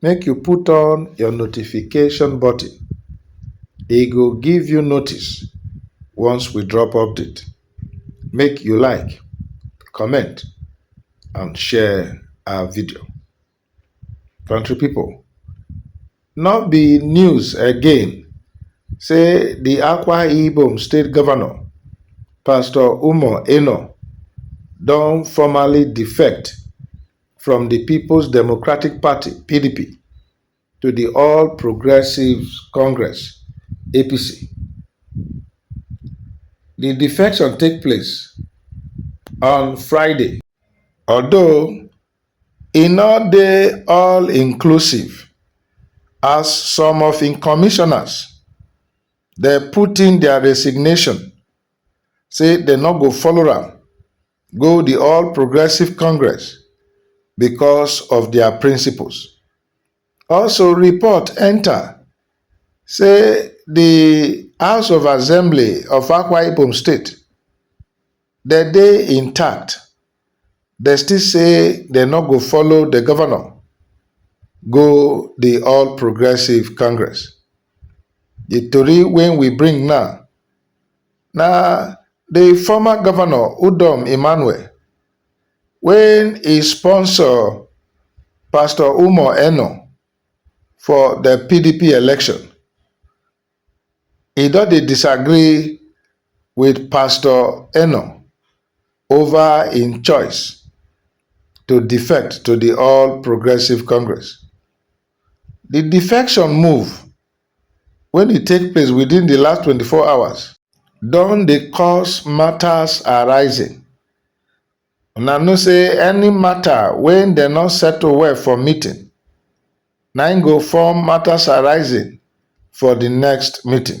make you put on your notification button. E go give you notice once we drop update. Make you like, comment and share our video. Country people, no be news again say the Akwa Ibom state governor, Pastor Umo Eno, don formally defect from di Peoples Democratic Party, PDP, to di All Progressives Congress, APC. Di defection take place on Friday. Although e no dey all inclusive as some of im commissioners dey put in their resignation say dem no go follow am go di All Progressive Congress because of dia principles. Also report enta say di House of Assembly of Akwa Ibom State dem dey intact, dem still say dem no go follow di governor go di All Progressive Congress. Di tori wey we bring now Na di former govnor Udom Emmanuel wen e sponsor pastor Umar Eno for di pdp election, e don dey disagree wit pastor Eno ova im choice to defect to di All Progressives Congress. di defection move wey dey take place within di last twenty four hours don dey cause matters arising. Una know say any matter wey dem no settle well for meeting na im go form matters arising for di next meeting.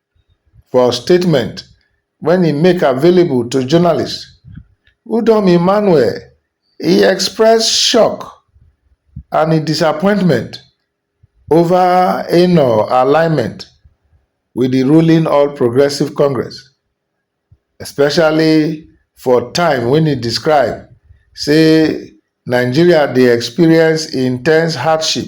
For statement wen e make available to journalists, Udom Emmanuel e express shock and e disappointment ova Enoh alignment wit di ruling All Progressives Congress, especially for time wen e describe say Nigeria dey experience intense hardship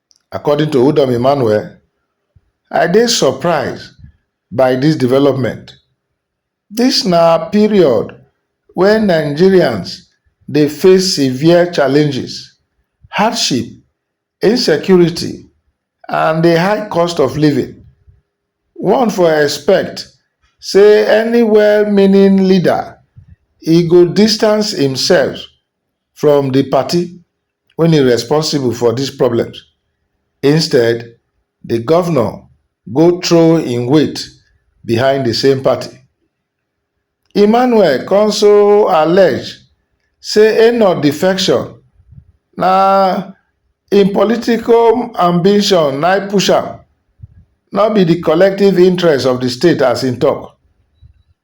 According to Udom Emmanuel, I dey surprised by dis development, dis na period wen Nigerians dey face severe challenges, hardship, insecurity and di high cost of living. One for expect say any well-meaning leader e go distance imself from di party. wey dey responsible for dis problems. Instead, di govnor go throw im weight behind di same party. Emmanuel also allege say Enoch defection na im political ambition na im push am, no be di collective interest of di state as im tok.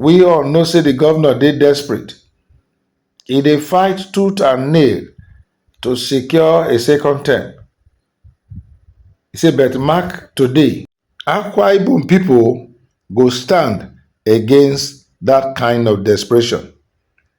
We all know say the governor dey desperate. He dey fight tooth and nail to secure a second term. He say but mark today. Akwa Ibom pipo go stand against dat kind of desperation.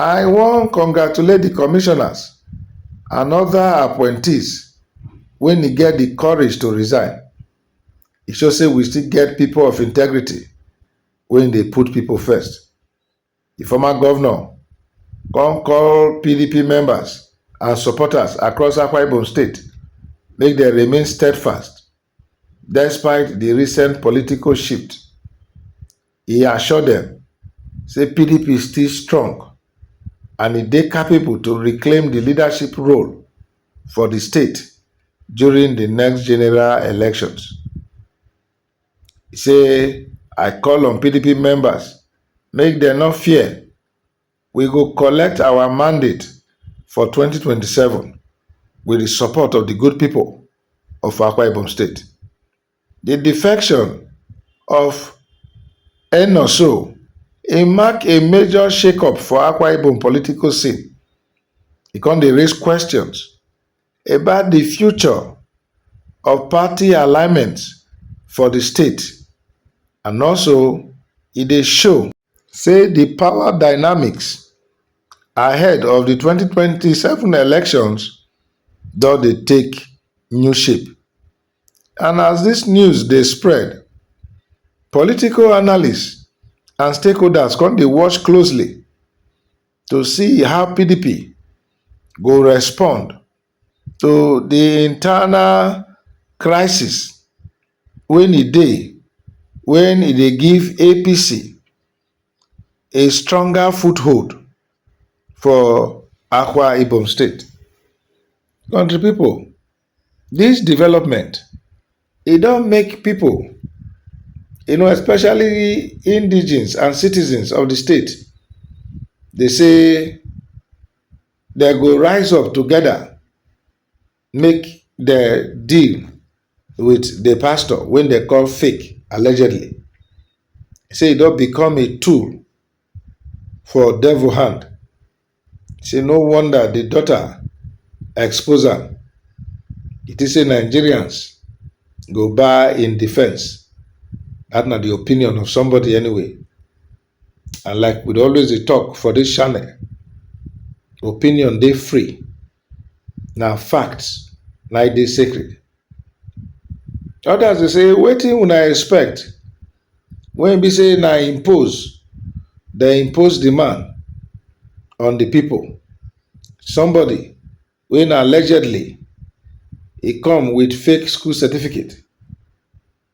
I wan congratulate di commissioners and oda appointees wey ni get di courage to resign, e show say we still get pipo of integrity wey dey put pipo first. Di former govnor kon call pdp members and supporters across Akwa Ibom state make dem remain steadfast. Despite di recent political shift, e assure dem say pdp still strong and e dey capable to reclaim di leadership role for di state during di next general elections. E say, I call on pdp members make dem no fear. We go collect our mandate for twenty twenty seven wit di support of di good pipo of Akwa Ibom State. Di defection of Eno so e mark a major shake-up for Akwa Ibom political scene, e come dey raise questions about di future of party alignment for di state and also e dey show. say di power dynamics ahead of di 2027 elections don dey take new shape and as dis news dey spread political analysts and stakeholders come dey watch closely to see how pdp go respond. to the internal crisis wey e dey when e dey give APC a stronger foothold for Akwa Ibom state. Country people, this development e don make people you know especially indigenes and citizens of the state dey say, Dem go rise up together make dem deal with the pastor wey dem call fake allegedly say e don become a tool for devil hand say no wonder the daughter expose am e think say Nigerians go buy im defence that na the opinion of somebody anyway And like we dey always dey talk for this channel, opinion dey free. Na fact na e dey sacred. Others dey say wetin una expect when e be say na impose dey impose the man on the people. Somebody wey na allegedly e come with fake school certificate.